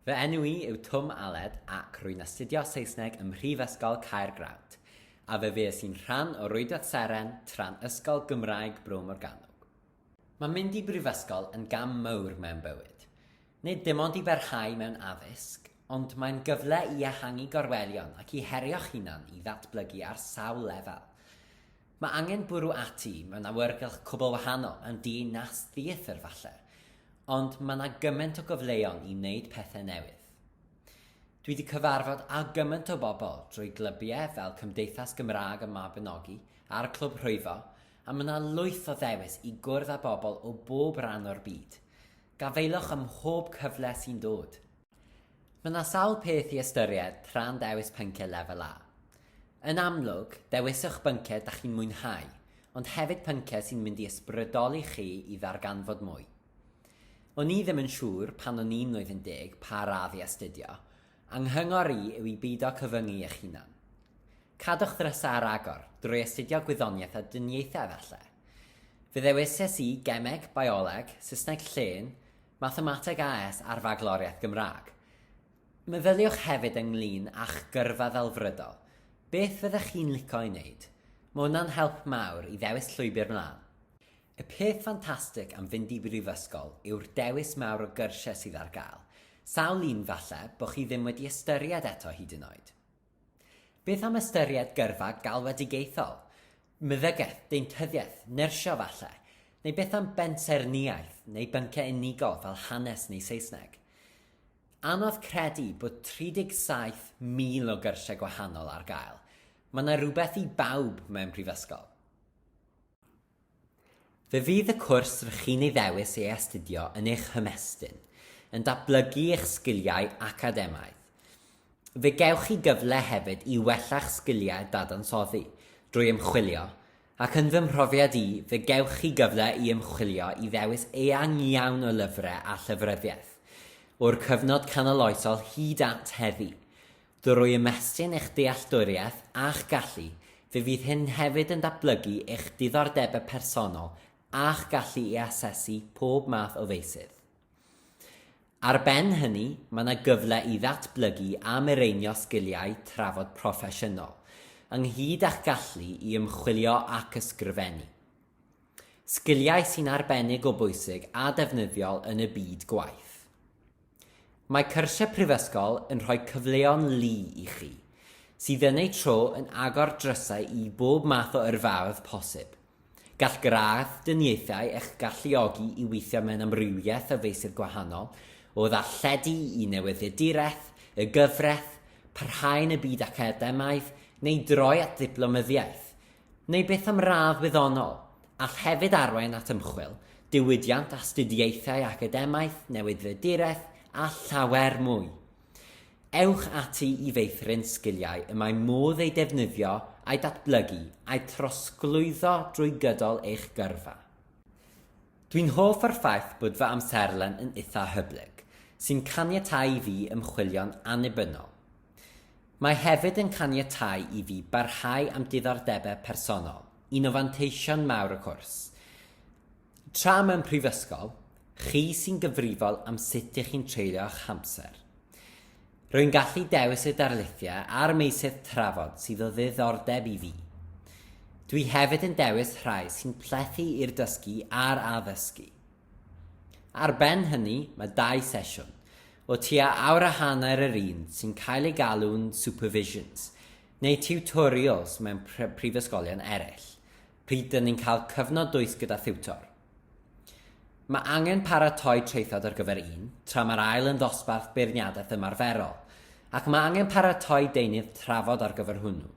Fy enw i yw Twm Aled ac rwy'n astudio Saesneg ym Mhrifysgol Caergrawnt, a fe fues i'n rhan o Rwydwaith Seren tra'n Ysgol Gymraeg Bro Morgannwg. Mae mynd i brifysgol yn gam mawr mewn bywyd, nid dim ond i barhau mewn addysg, ond mae'n gyfle i ehangu gorwelion ac i herio'ch hunan i ddatblygu ar sawl lefel. Mae angen bwrw ati mewn awyrgylch cwbl wahanol yn dyn nas theatr falle, ond mae 'na gymaint o gyfleon i wneud pethe newydd. Dwi 'di cyfarfod â gymaint o bobl drwy glybiau fel Cymdeithas Gymraeg y Mabinogi a'r Clwb Rhwyfo a mae 'na lwyth o ddewis i gwrdd â bobl o bob ran o'r byd. Gafaelwch ym mhob cyfle sy'n dod! Mae yna sawl peth i ystyried tra'n dewis pynciau Lefel A. Yn amlwg, dewiswch bynciau da chi'n mwynhau, ond hefyd pynciau sy'n mynd i ysbrydoli chi i ddarganfod mwy. O'n i ddim yn siŵr pan o'n i'n mlwyddyn deg pa radd i astudio, a nghyngor i yw i beido cyfyngu eich hunan. Cadwch ddrysau ar agor, drwy astudio gwyddoniaeth a dyniaethau efallai. Fe ddewises i Gemeg, Bioleg, Saesneg Llên, Mathemateg AS a'r Fagloriaeth Gymraeg. Meddyliwch hefyd ynglŷn â'ch gyrfa ddelfrydol. Beth fyddech chi'n lico ei wneud? Mae hwnna'n help mawr i ddewis llwybr mlaen. Y peth ffantastig am fynd i brifysgol yw'r dewis mawr o gyrsiau sydd ar gael. Sawl un, falle, bo chi ddim wedi ystyried eto hyd yn oed. Beth am ystyried gyrfa galwedigaethol, meddygaeth, deintyddiaeth, nyrsio falle? Neu beth am bensaernïaeth neu bynciau unigol fel hanes neu Saesneg? Anodd credu bod 37,000 o gyrsiau gwahanol ar gael. Mae 'na rywbeth i bawb mewn prifysgol. Fe fydd y cwrs rŷch chi'n ei ddewis ei astudio yn eich hymestyn, yn datblygu eich sgiliau academaidd. Fe gewch chi gyfle hefyd i wella'ch sgiliau dadansoddi drwy ymchwilio, ac yn fy mhrofiad i, fe gewch chi gyfle i ymchwilio i ddewis eang iawn o lyfrau a llyfryddiaeth, o'r cyfnod canoloesol hyd at heddi, Drwy ymestyn eich dealltwriaeth a'ch gallu, fe fydd hyn hefyd yn datblygu eich diddordebau personol a'ch gallu i asesu pob math o feysydd. Ar ben hynny, mae yna gyfle i ddatblygu a mireinio sgiliau trafod proffesiynol, ynghyd â'ch gallu i ymchwilio ac ysgrifennu. Sgiliau sy'n arbennig o bwysig a defnyddiol yn y byd gwaith. Mae cyrsiau prifysgol yn rhoi cyfleon lu i chi, sydd yn eu tro yn agor drysau i bob math o yrfaoedd posib. Gall gradd dyniaethau eich galluogi i weithio mewn amrywiaeth o feysydd gwahanol, o ddarlledu i newyddiaduraeth, y gyfraith, parhau yn y byd academaidd, neu droi at ddiplomyddiaeth. neu byth am radd wyddonol, all hefyd arwain at ymchwil, diwydiant, astudiaethau academaidd, newydfeduraeth a llawer mwy. Ewch ati i feithrin sgiliau y mae modd eu defnyddio a'u datblygu a'u trosglwyddo drwy gydol eich gyrfa. Dwi'n hoff o'r ffaith bod fy amserlen yn itha hyblyg, sy'n caniatáu i fi ymchwilio'n annibynnol. Mae hefyd yn caniatáu i fi barhau â'm diddordebau personol, un o fanteision mawr y cwrs. Tra mewn prifysgol, chi sy'n gyfrifol am sut ych chi'n treulio eich hamser. Rwy'n gallu dewis y darlithiau a'r meysydd trafod sydd o ddiddordeb i fi. Dwi hefyd yn dewis rhai sy'n plethu i'r dysgu a'r addysgu. Ar ben hynny, mae dau sesiwn, o tua awr a hanner yr un sy'n cael ei galw'n supervisions, neu tiwtorials mewn prifysgolion eraill, pryd dŷn ni'n cael cyfnod dwys gyda thiwtor. Mae angen paratoi traethawd ar gyfer un, tra mae'r ail yn ddosbarth beirniadaeth ymarferol, ac mae angen paratoi deunydd trafod ar gyfer hwnnw.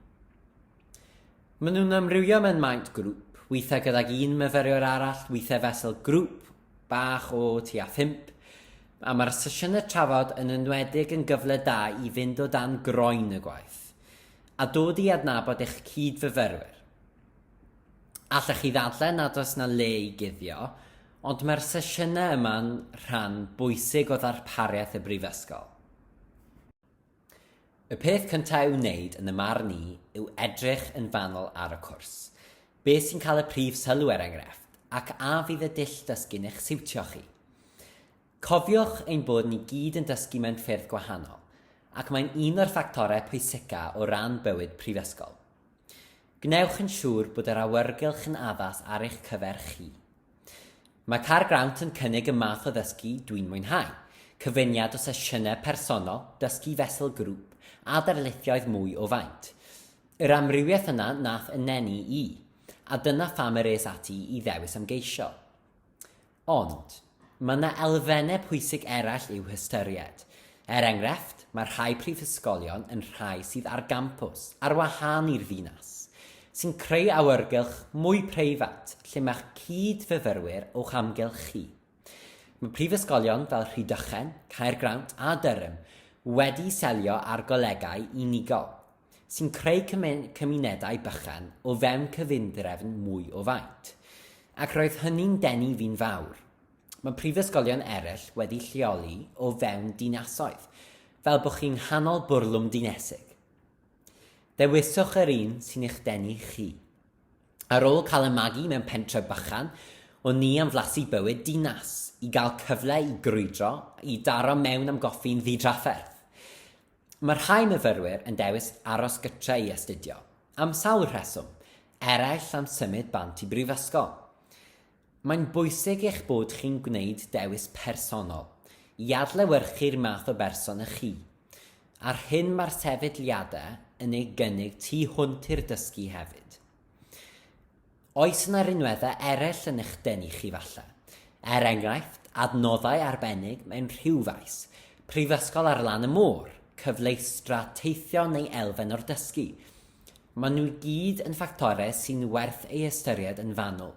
Maen nhw'n amrywio mewn maint grŵp, weithiau gydag un myfyriwr arall, weithiau fesel grŵp bach o tua phump, a mae'r sesiynau trafod yn enwedig yn gyfle da i fynd o dan groen y gwaith a dod i adnabod eich cyd-fyfyrwyr. Allech chi ddadlau nad oes na le i guddio, ond mae'r sesiynau yma'n rhan bwysig o ddarpariaeth y Brifysgol. Y peth cyntaf i'w wneud yn y marn i yw edrych yn fanwl ar y cwrs. Beth sy'n cael y prif sylw er enghraifft, ac a fydd y dull dysgu'n eich siwtio chi? Cofiwch ein bod ni gyd yn dysgu mewn ffyrdd gwahanol, ac mae'n un o'r ffactorau pwysica o ran bywyd prifysgol. Gwnewch yn siŵr bod yr awyrgylch yn addas ar eich cyfer chi. Mae Car Grant yn cynnig y math o ddysgu dwi'n mwynhau, cyfuniad o sesiynau personol, dysgu fesul grŵp, a darlithioedd mwy o faint. Yr amrywiaeth yna nath yneni i, a dyna pham yr es ati i ddewis ymgeisio. Ond, mae yna elfennau pwysig eraill i'w hystyried. Er enghraifft, mae rhai prifysgolion yn rhai sydd ar gampws, ar wahân i'r ddinas, sy'n creu awyrgylch mwy preifat lle mae'ch cyd-fyfyrwyr o'ch amgylch chi. Mae prifysgolion fel Rhydychen, Caergrawnt a Durham wedi selio ar golegau unigol, sy'n creu cymunedau bychan o fewn cyfundrefn mwy o faint. Ac roedd hynny'n denu fi'n fawr. Mae prifysgolion eraill wedi lleoli o fewn dinasoedd, fel bod chi'n nghanol bwrlwm dinesig. Dewiswch yr un sy'n eich denu chi. Ar ôl cael y magu mewn pentref bychan, o'n ni am flasu bywyd dinas, i gael cyfle i grwydro, i daro mewn am goffi'n ddidrafferth. Mae rhai myfyrwyr yn dewis aros gytre i astudio, am sawl rheswm, eraill am symud bant i brifysgol. Mae'n bwysig eich bod chi'n gwneud dewis personol i adlewyrchu'r math o berson ych chi, a'r hyn mae'r sefydliadau yn ei gynnig tu hwnt i'r dysgu hefyd. Oes yna rinweddau eraill yn eich denu chi falle? Er enghraifft, adnoddau arbennig mewn rhyw faes, prifysgol ar lan y môr, cyfleustra teithio neu elfen o'r dysgu, Maen nhw i gyd yn ffactorau sy'n werth eu hystyried yn fanwl.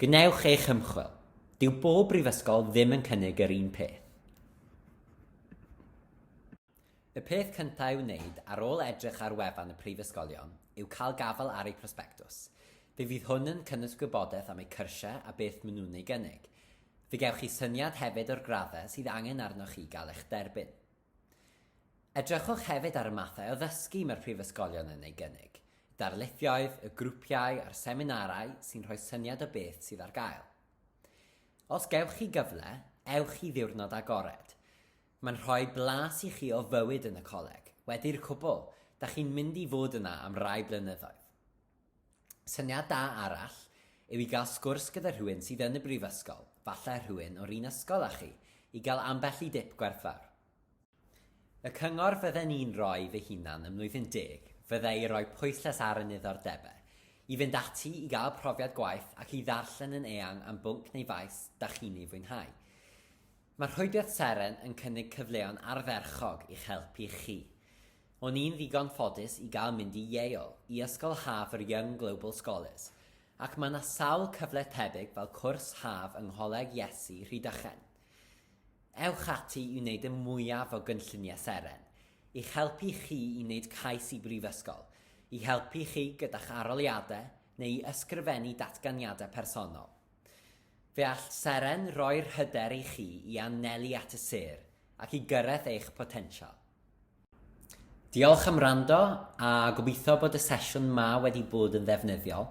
Gwnewch eich ymchwil. Dyw bob brifysgol ddim yn cynnig yr un peth. Y peth cyntaf i'w wneud ar ôl edrych ar wefan y prifysgolion yw cael gafael ar eu prosbectws. Fe fydd hwn yn cynnwys gwybodaeth am eu cyrsiau a beth maen nhw'n ei gynnig. Fe gewch chi syniad hefyd o'r graddau sydd angen arnoch chi gael eich derbyn. Edrychwch hefyd ar y mathau o ddysgu mae'r prifysgolion yn ei gynnig, y darlithioedd, y grwpiau a'r seminarau sy'n rhoi syniad o beth sydd ar gael. Os gewch chi gyfle, ewch i ddiwrnod agored. Mae'n rhoi blas i chi o fywyd yn y coleg. Wedi'r cwbl, da chi'n mynd i fod yna am rai blynyddoedd. Syniad da arall yw i gael sgwrs gyda rhywun sydd yn y brifysgol, falle rhywun o'r un ysgol â chi, i gael ambell i dip gwerthfawr. Y cyngor fydden i'n roi fy hunan ym Mlwyddyn Deg fydde i roi pwyslais ar y niddordebau, i fynd ati i gael profiad gwaith ac i ddarllen yn eang am bwnc neu faes da chi'n ei fwynhau. Mae Rhwydwaith Seren yn cynnig cyfleon ardderchog i'ch helpu chi. O'n i'n ddigon ffodus i gael mynd i Yale, i ysgol haf yr Young Global Scholars, ac mae 'na sawl cyfle tebyg fel cwrs haf yng Ngholeg Iesu Rhydychen. Ewch ati i wneud y mwyaf o gynlluniau seren, i'ch helpu chi i wneud cais i brifysgol, i helpu chi gyda'ch aroliadau neu i ysgrifennu datganiadau personol. Fe all seren roi'r hyder i chi i anelu at y sêr ac i gyrraedd eich potensial. Diolch am rando a gobeithio bod y sesiwn ma wedi bod yn ddefnyddiol.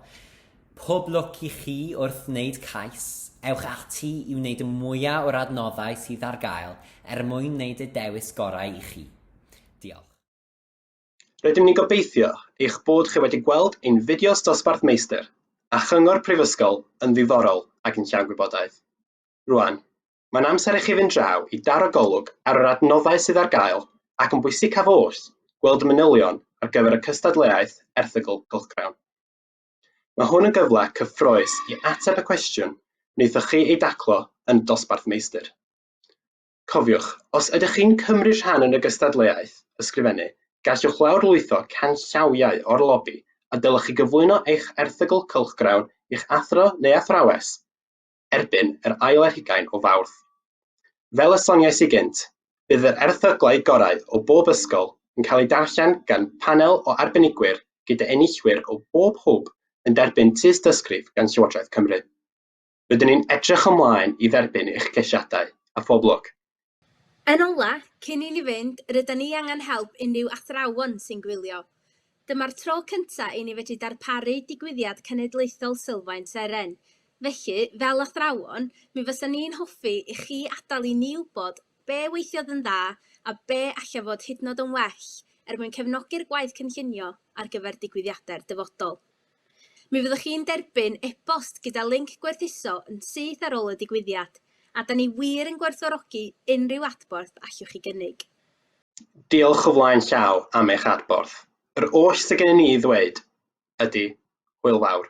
Pob lwc i chi wrth wneud cais. Ewch ati i wneud y mwyaf o'r adnoddau sydd ar gael er mwyn wneud y dewis gorau i chi. Diolch. Rydym ni'n gobeithio eich bod chi wedi gweld ein fideos Dosbarth Meistr a Chyngor Prifysgol yn ddiddorol ac yn llawn gwybodaeth. Rwan, Mae'n amser i chi fynd draw i daro golwg ar yr adnoddau sydd ar gael ac yn bwysicaf oll, gweld y manylion ar gyfer y cystadleuaeth erthygl cylchgrawn. Mae hwn yn gyfle cyffrous i ateb y cwestiwn wnaethoch chi ei daclo yn y dosbarth meistr. Cofiwch, os ydych chi'n cymryd rhan yn y gystadleuaeth ysgrifennu, gallwch lawrlwytho canllawiau o'r lobi a dylech chi gyflwyno eich erthygl cylchgrawn i'ch athro neu athrawes erbyn yr ail ar hugain o Fawrth. Fel y soniais i gynt, bydd yr erthyglau gorau o bob ysgol yn cael eu darllen gan panel o arbenigwyr gyda enillwyr o bob hwb yn derbyn tystysgrif gan Llywodraeth Cymru. Rydyn ni'n edrych ymlaen i dderbyn eich ceisiadau, a phob lwc! Yn ola, cyn i ni fynd, rydan ni angen help unrhyw athrawon sy'n gwylio. Dyma'r tro cynta i ni fedru darparu digwyddiad cenedlaethol Sylfaen Seren. Felly, fel athrawon, mi fysa ni'n hoffi i chi adal i ni wbod be weithiodd yn dda a be alla fod hydnod yn well er mwyn cefnogi'r gwaith cynllunio ar gyfer digwyddiade'r dyfodol. Mi fyddwch chi'n derbyn e-bost gyda linc gwerthuso yn syth ar ôl y digwyddiad, a da ni wir yn gwerthfawrogi unrhyw adborth allwch chi gynnig. Diolch o flaen llaw am eich adborth. Yr oll sydd gennym ni i ddweud ydy, hwyl fawr.